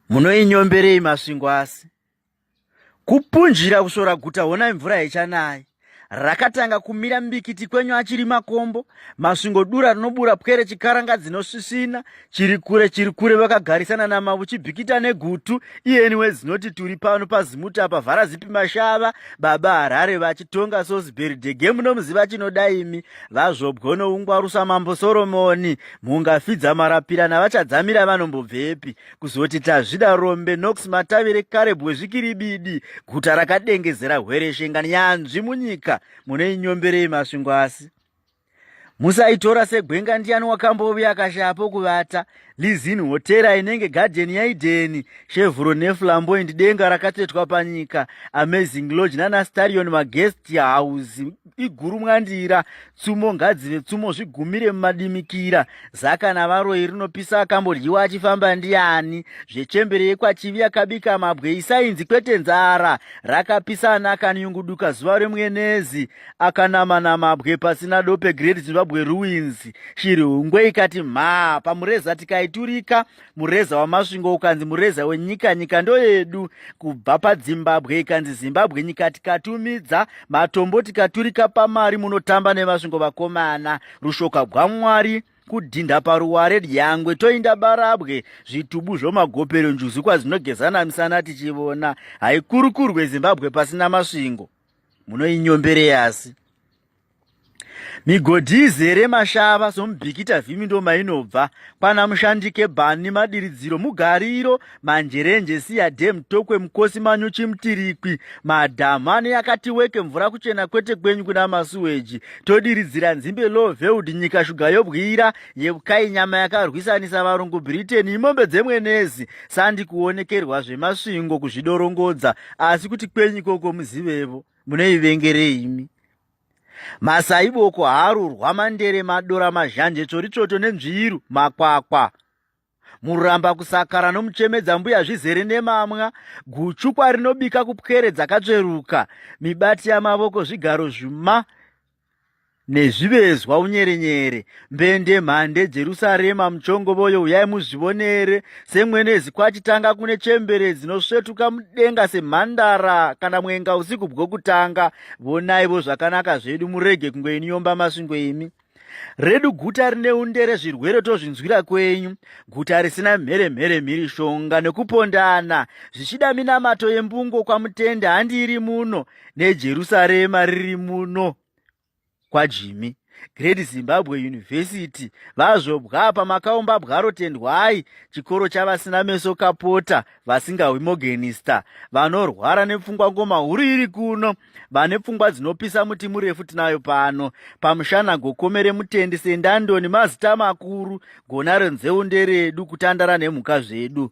munoinyomberei masvingo asi kupunjira kusvora guta honai mvura yechanai rakatanga kumira mbikiti kwenyu achiri makombo masvingo dura rinobura pwere chikaranga dzinosvisvina chiri kure chiri kure vakagarisana namavu chibhikita negutu iyeni wezinoti turi pano pazimuti apa vhara zipi mashava baba harare vachitonga sosberidege munomuziva chinoda imi vazvobwo noungwarusa mambo soromoni Mhunga fidza marapira navachadzamira vanombobvepi kuzoti tazvida rombe nox matavire kare bwezvikiribidi guta rakadengezera hwereshe ngani yanzvi munyika mune inyomberei masvingo asi musaitora segwenga ndiyani wakambovi akashapo kuvata lizin hotera inenge gadheni yaidheni shevhuro neflamboindi denga rakatsvetwa panyika amazing lodge nanastarion maguest house iguru mwandira tsumo ngadzive tsumo zvigumire mumadimikira zaka navaroyi rinopisa akambodyiwa achifamba ndiani zvechembere yekwachivi yakabika mabwe isainzi kwete nzara rakapisa ana akanyunguduka zuva remwenezi akanama namabwe pasina dope great zimbabwe ruins shiri hungwe ikati mhaa pamureza tikaiturika mureza wamasvingo ukanzi mureza wenyika nyika ndoyedu kubva padzimbabwe ikanzi zimbabwe nyika tikatumidza matombo tikaturika pamari munotamba nemasvingo vakomana rushoka gwamwari kudhinda paruware dyangwe toinda barabwe zvitubu zvomagopero njuzu kwazinogezana misana tichivona haikurukurwe zimbabwe pasina masvingo munoinyombereyasi Migodhi izere mashava somubikita vhimi ndo mainobva kwana mushandike bani madiridziro mugariro manjerenje siya dem tokwe mukosi manyu chimutirikwi madhamu ane yakati weke mvura kuchena kwete kwenyu kuna masuweji todiridzira nzimbe low veld nyika shuga yobwira yeukai nyama yakarwisanisa varungu britain imombe dzemwenezi sandi kuonekerwa zvemasvingo kuzvidorongodza asi kuti kwenyu ikoko muzivevo munoivengerei imi masaiboko harurwa mandere madora mazhanje tsvoritsvoto nenzviiru makwakwa muramba kusakara nomuchemedza mbuya zvizere nemamwa guchukwa rinobika kupwere dzakatsveruka mibati yamavoko zvigaro zvuma nezvivezwa unyerenyere mbende mhande jerusarema muchongovoyo uyai muzvivonere semwenezi kwachitanga kune chembere dzinosvetuka mudenga semhandara kana mwenga usiku bwokutanga vonaivo zvakanaka zvedu murege kungoiniyomba masvingo imi redu guta rine undere zvirwere tozvinzwira kwenyu guta risina mhere mhere mhiri shonga nekupondana zvichida minamato yembungo kwamutende handiiri muno nejerusarema riri muno kwajimi great zimbabwe university vazvobwa apa makaumba bwaro tendwai chikoro chavasina meso kapota vasingahwi mogenista vanorwara nepfungwa ngoma huru iri kuno vane pfungwa dzinopisa muti murefu tinayo pano pamushana gokomere mutendi sendandoni mazita makuru gonaro nzeu nderedu kutandara nemhuka zvedu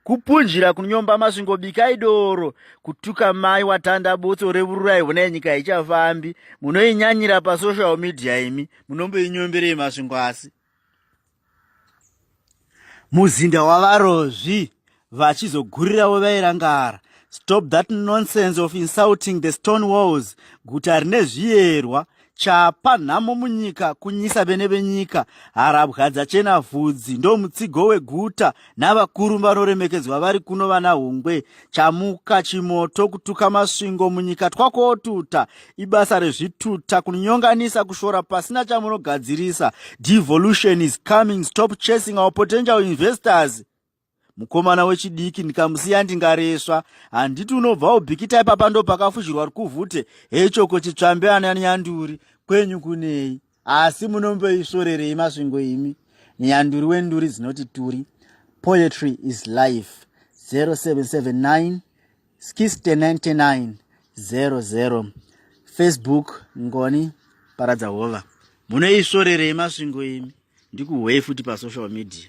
kupunjira kunyomba masvingo bikai doro kutuka mai watanda botso revururai hona yenyika haichafambi munoinyanyira pasocial media imi munomboinyomberei masvingo asi muzinda wavarozvi vachizogurirawo vairangara stop that nonsense of insulting the stone walls guta rine zviyerwa chapa nhamo munyika kunyisa vene venyika harabwa dzachena vhudzi ndo mutsigo weguta navakuru vanoremekedzwa vari kuno vana hungwe chamuka chimoto kutuka masvingo munyika twakotuta ibasa rezvituta kunyonganisa kushora pasina chamunogadzirisa devolution is coming stop chasing our potential investors mukomana wechidiki ndikamusiya ndingaresva handiti unobva ubhikita ipapa ndopakafushirwa rukuvhute hechoko chitsvambe ana nyanduri kwenyu kunei asi munomboisvorerei masvingo imi nyanduri wenduri dzinoti turi poetry is life 0779 Skiste 99 00 Facebook Ngoni Paradza Hova. Munoisvorerei masvingo imi? Ndikuhwei futi pasocial media.